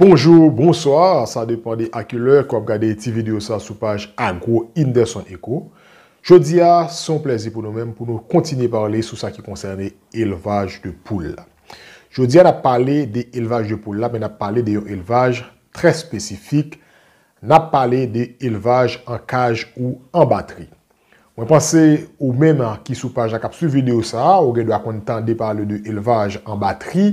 Bonjour, bonsoir, sa depan de a ki lè ke w ap gade ti video sa sou paj Agro Inderson Eco. Jodi a, se yon plèzi pou nou menm pou nou kontinye pale sou sa ki konsène elvaj de poul la. Jodi a n ap pale de elvaj de poul la men n ap pale de yon elvaj trè espesifik, n ap pale de elvaj an kaj ou an batri. Mwen panse ou menm ki sou paj la k ap swiv videyo sa a, ou gen dwa konn tande pale de elvaj an batri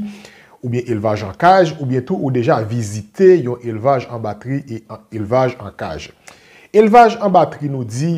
oubyen elvaj an kaj oubyen tou ou deja vizite yon elvaj an batri e elvaj an kaj. Elvaj an batri nou di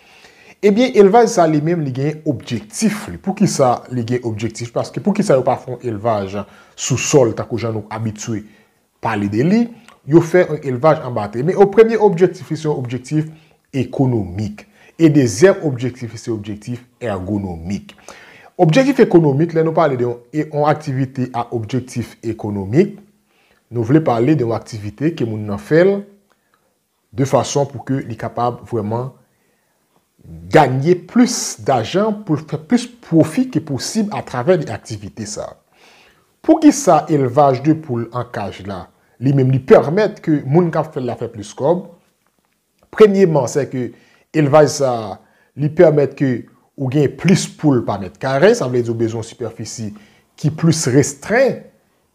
Ebyen elvaj sa li menm li gen objektif li. Poukisa li gen objektif? Paske poukisa yo pa fè yon elvaj sou sòl tankou jan nou abitye pale de li? Yo fè yon elvaj anba tè. Men yo premye objektif li se yon objektif ekonomik. E dezyèm objektif li se objektif ègonomik. Objektif ekonomik, lè nou pale de yon aktivite a objektif ekonomik, nou vle pale de yon aktivite ke moun nan fè l de fason pou ke li kapab vreman ganye plis dajan pou l fè plis pwofi ke posib a travè de aktivite sa. Pou ki sa elvaj de poul an kaj la, li menm li pèmèt ke moun kap fè l la fè plis kòb? Premyeman se ke elvaj sa li pèmèt ke ou gen plis poul pa mèt kare, sa vle di ou bezwen sipèfisi ki plis restren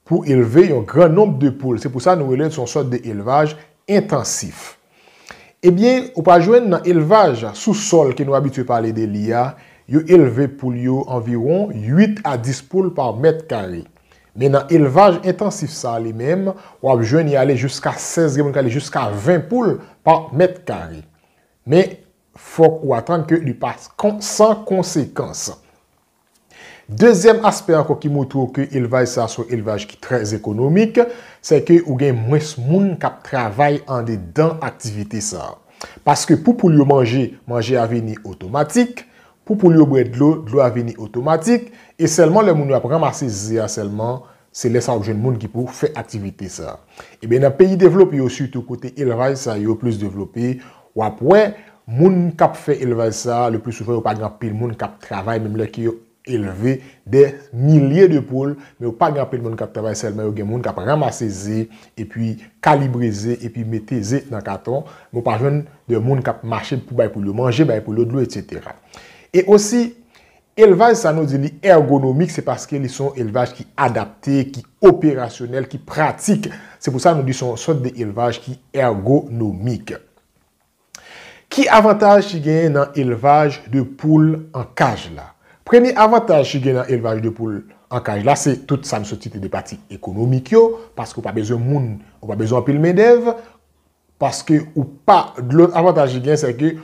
Pou elve yon gran nonb de poul. Se pou sa nou rele l son sòt de elvaj entansif. Ebyen, ou pa jwenn nan elvaj sou sòl ke nou abitye pale de li a, yo elve poul yo anviwon 8 a 10 poul pa mèt kare. Men nan elvaj entansif sa li menm, w ap jwenn y ale jiska 16, gen moun k ale jiska 20 poul pa mèt kare. Men, fòk ou atann ke li pa san konsekans. Dezyèm aspè ankò ki montre w ke elvaj sa se yon elvaj ki trè ekonomik, se ke ou gen mwens moun k ap travay andedan aktivite sa. Paske pou poul yo manje, manje a vini otomatik, pou poul yo bwè dlo, dlo a vini otomatik, e sèlman lè moun yo ap ranmase ze a sèlman, Se lè sa wap jwenn moun ki pou fè aktivite sa. Ebyen nan peyi devlope yo sitou kote elvaj sa yo plis devlope, wap wè moun kap fè elvaj sa le pli souvan yo pa gen anpil moun kap travay menm lè ke yo elve dè milye de poul men yo pa gen anpil moun kap travay sèlman yo gen moun kap ramase ze epi kalibre ze epi mete ze nan katon men w pa jwenn de moun kap mache pou bay poul yo manje, bay poul yo dlo etc. E osi Elvaj sa nou di li ergonomik se paske li se yon elvaj ki adapte, ki operasyonèl, ki pratik. Se pou sa nou di se yon sòt de elvaj ki ergonomik. Ki avantaj ki genyen nan elvaj de poul an kaj la? Premye avantaj ki genyen nan elvaj de poul an kaj la se tout sa m sot site de pati ekonomik yo, paske ou pa bezwen moun, ou pa bezwen anpil mendèv, paske ou pa, lòt avantaj ki genyen sè ke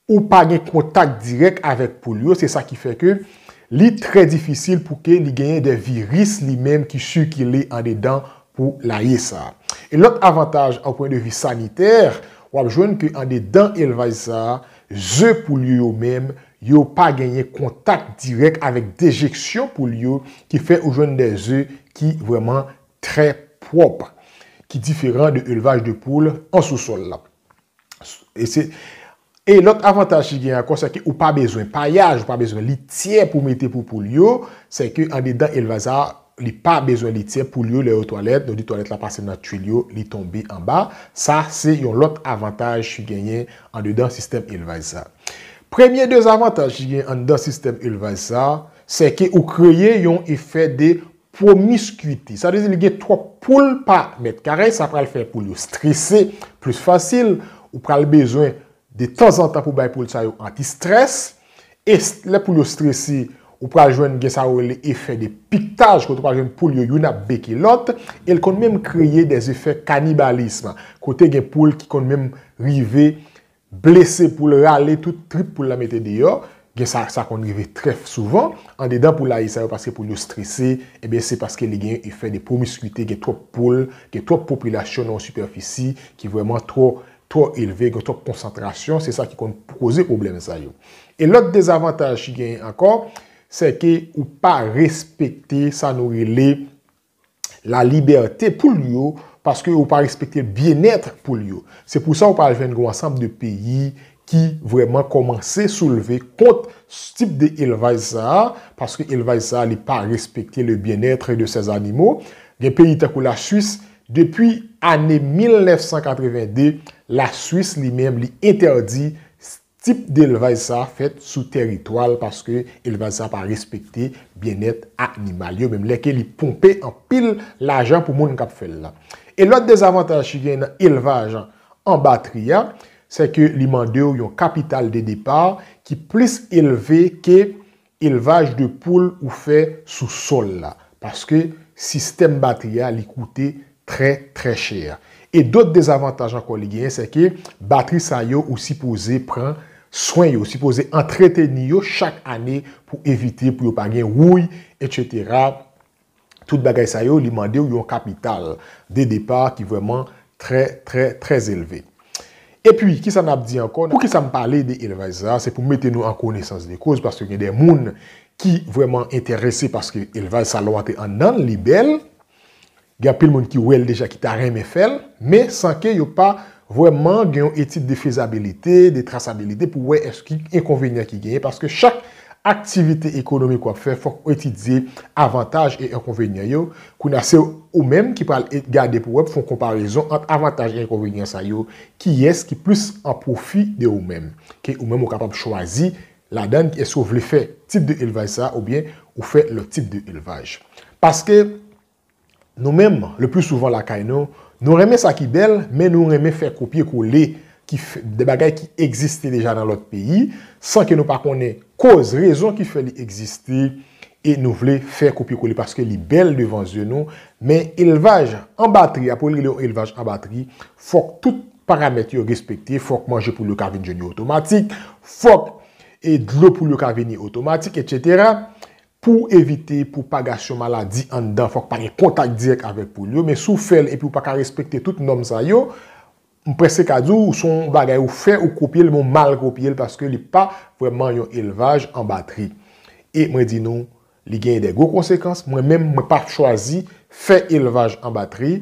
Ou pa gen kontak dirèk avèk poul yo, se sa ki fè ke li trè difisil pou ke li genyen de viris li menm ki sikile andedan poulaye sa. E lòt avantaj an pwen de vi sanitè, w ap jwenn ke andedan elvaj sa, ze poul yo yo menm, yo pa genyen kontak dirèk avèk dejeksyon poul yo, ki fè ou jwenn de ze ki vrèman trè pwòp, ki diferan de elvaj de poul an sousòl la. E se E lòt avantaj ki gen ankò se ke ou pa bezwen payaj, ou pa bezwen lityè pou mete pou poul yo, se ke andedan elvaj sa li pa bezwen lityè, poul yo lè yo twalèt, nou di twalèt la pase nan twil yo, li tonbe anba, sa se yon lòt avantaj ki genyen andedan sistèm elvaj sa. Premye dezavantaj ki gen anndan sistèm elvaj sa, se ke ou kreye yon efè de Promiscuity, sa vle di li gen twòp poul pa mèt kare, sa pral fè poul yo strese plis fasil, ou pral bezwen de tanzantan pou bay poul sa yo anti stress, e lè poul yo strese ou pral jwenn gen sa yo rele efè de piquetage kote ou pral jwenn poul yo youn ap beke lòt, e l konn menm kreye de efè kanibalism kote gen poul ki konn menm rive blese poul rale tout trip poul la mete deyò gen sa sa konn rive trè souvan andedan poul la e sa yo paske poul yo strese ebyen se paske li gen efè de promiskuite gen twòp poul gen twòp popilasyon nan yon sipèfisi ki vrèman twò twò elve gen twòp konsantrasyon se sa ki konn koze pwoblèm sa yo e lòt dezavantaj ki genyen ankò sèke ou pa respekte sa nou rele. la libète poul yo paske yo pa respekte byenèt poul yo. Se pou sa ou pral jwenn gen yon ansanm de peyi ki vrèman kòmanse soulve kont tip de elvaj sa a, paske elvaj sa a li pa respekte le byenètre de sè zanimo. Gen peyi tankou la Swis, depi ane 1982, la Swis li menm li entèdi Tip delvaj sa fèt sou tèritwa l paske elvaj sa pa respekte byennèt animal yo menm lè ke li ponpe anpil lajan pou moun k ap fè l la. E lòt dezavantaj ki genyen nan elvaj an batri a, sè ke li mande w yon kapital de depar ki plis elve ke Elvaj de poul ou fè sou sòl la paske sistèm batri a li koute trè trè chè. E dot dezavantaj ankò li genyen se ke batri sa yo ou sipoze pran swen yo, ou sipoze antreteni yo chak ane pou evite pou yo pa gen wouy etc. Tout bagay sa yo li mande w yon kapital de depa ki vrèman trè trè trè elve. Epi kisa n ap di ankò, pou kisa m pale de elvaj sa a, se pou mete nou an konesans de koz paske gen de moun ki vrèman enterese paske elvaj salon an te anndan l, li bèl, gen anpil moun ki wè l deja ki ta renmen fè l, men san ke yo pa vrèman gen yon etid de fezabilite, de trasabilite pou wè èske enkonvenyan ki genyen paske chak Aktivite ekonomik wap fè fòk ou etidye avantaj e enkonvenyan yo, kounye a se ou menm ki pral gade pou wè pou fè yon konparezon ant avantaj e enkonvenyan sa yo, kiyès ki plis an pwofi de ou menm, ke ou menm ou kapab chwazi ladan l èske ou vle fè tip de elvaj sa oubyen ou fè lòt tip de elvaj. Paske. Nou menm, le pli souvan lakay nou, nou renmen sa ki bèl, men nou renmen fè kopye kole ki fè, de bagay ki egziste deja nan lòt peyi, san ke nou pa konnen koz, rezon ki fè li egziste, e nou vle fè kopye kole paske li bèl devan zye nou, men elvaj an batri a, pou yo rele yon elvaj an batri, fòk tout paramèt yo respekte, fòk manje poul yo ka vin jwenn yo otomatik, fòk e dlo poul yo ka vini otomatik, etsetera. Pou w evite pwopagasyon maladi anndan fòk pa gen kontak dirèk avèk poul yo, men si w fè l epi ou pa ka respekte tout nòm sa yo, m prèske ka di w se yon bagay ou fè, ou kopye l men ou mal kopye l paske li pa vrèman yon elvaj an batri. E mwen di nou li genyen de gwo konsekans, mwen menm mwen pa chwazi fè elvaj an batri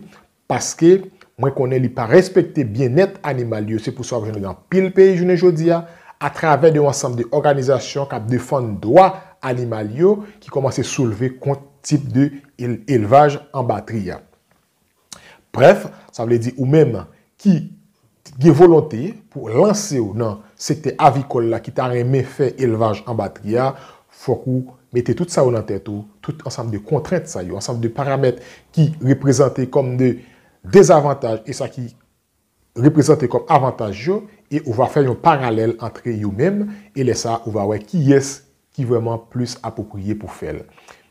Paske, mwen konnen li pa respekte byennèt animal yo, se pou sa wap jwenn li nan pil peyi jounen jodi a, a travè de yon ansanm de òganizasyon kap defann dwa animal yo ki kòmanse soulve kont tip de elvaj an batri a. Brèf, sa vle di ou menm ki ki gen volonte pou lanse yo nan sektè avikòl la ki ta renmen fè elvaj anba tri a, fòk ou mete tout sa yo nan tèt ou, tout ansanm de kontrent sa yo, ansanm de paramèt ki reprezante kòm de dezavantaj e sa ki reprezante kòm avantaj yo e ou va fè yon paralèl antre yo menm e lè sa ou va wè kiyès ki vrèman plis apwopriye pou fè l.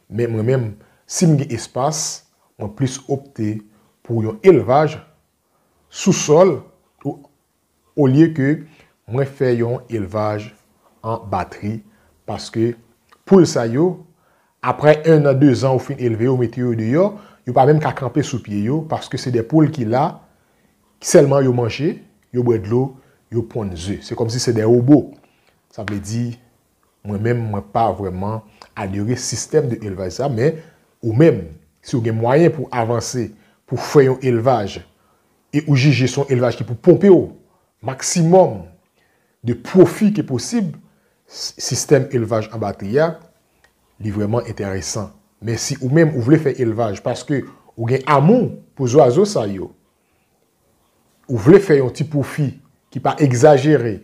Men mwen menm, si m gen espas, mwen plis opte pou yon elvaj. sou sòl ou olye ke mwen fè yon elvaj an batri paske poul sa yo aprè 1 an 2 zan ou fin elve yo mete yo deyò yo pa menm ka kanpe sou pye yo paske se de poul ki la sèlman yo manje yo bwè dlo yo ponn ze se kòmsi se de wobo sa vle di Mwen menm mwen pa vrèman adere sistèm de elvaj sa men ou menm si ou gen mwayen pou avanse pou fè yon elvaj e ou jije son elvaj ki pou ponpe w maksimòm de pwofi ke posib sistèm elvaj anba tè a li vrèman entèresan men si ou menm ou vle fè elvaj paske ou gen amou pou zwazo sa yo ou vle fè yon ti pwofi ki pa egzajere.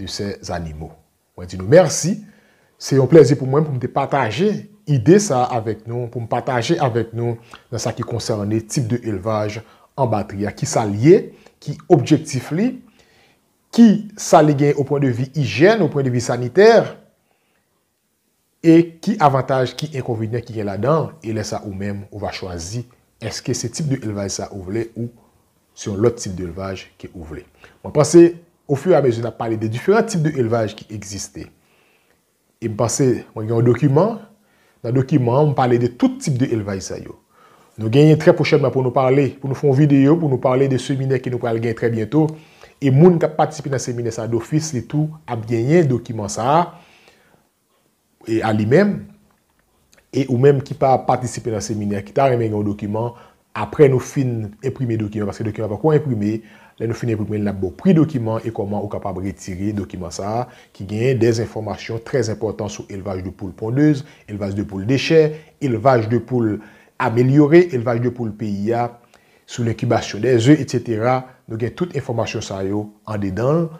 de ces animaux. Mwen di nou mèsi, se yon plèzi pou mwen pou m te pataje ide sa a avèk nou, pou m pataje avèk nou nan sa ki konsène tip de elvaj an batri a, ki sa l ye, ki objektif li, ki sa li gen o pwen de vi ijyèn, o pwen de vi sanitè, e ki avantaj, ki enkonvenyan ki gen ladan l, e lè sa ou menm ou va chwazi èske se tip de elvaj sa ou vle ou se yon lòt tip de elvaj ke ou vle. Mwen panse o fur et à mesure n ap pale de diferan tip de elvaj ki egziste e m panse mwen gen yon dokiman, nan dokiman an m pale de tout tip de elvaj sa yo. Nou genyen trè pwochènman pou nou pale, pou nou fè yon videyo pou nou pale de seminè ke nou pral gen trè byento e moun k ap patisipe nan seminè sa dofis li tou ap genyen dokiman sa a e a li menm, e ou menm ki pa patisipe nan seminè ki ta renmen gen yon dokiman, apre nou fin enprime dokiman, paske dokiman an poko enprime, lè nou fin enprime l n ap ba w pri dokiman e kòman ou kapab retire dokiman sa a ki genyen dè enfòmasyon trè enpòtan sou elvaj de poul pondez, elvaj de poul dechè, elvaj de poul amelyore, elvaj de poul peyi a, sou lenkibasyon dè ze, etsetera, nou gen tout enfòmasyon sa yo andedan l,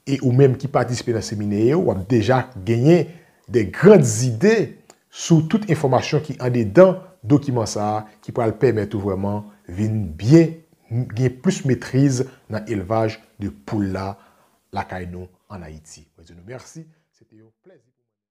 E ou menm ki patisipe nan seminè yo, w ap deja genyen de grand zide sou tout enfòmasyon ki andedan dokiman sa a ki pral pèmèt ou vrèman vin byen gen plis metriz nan elvaj de poul la lakay nou an Ayiti. Mwen di nou mèsi. Se te yon plèzi pou mwen.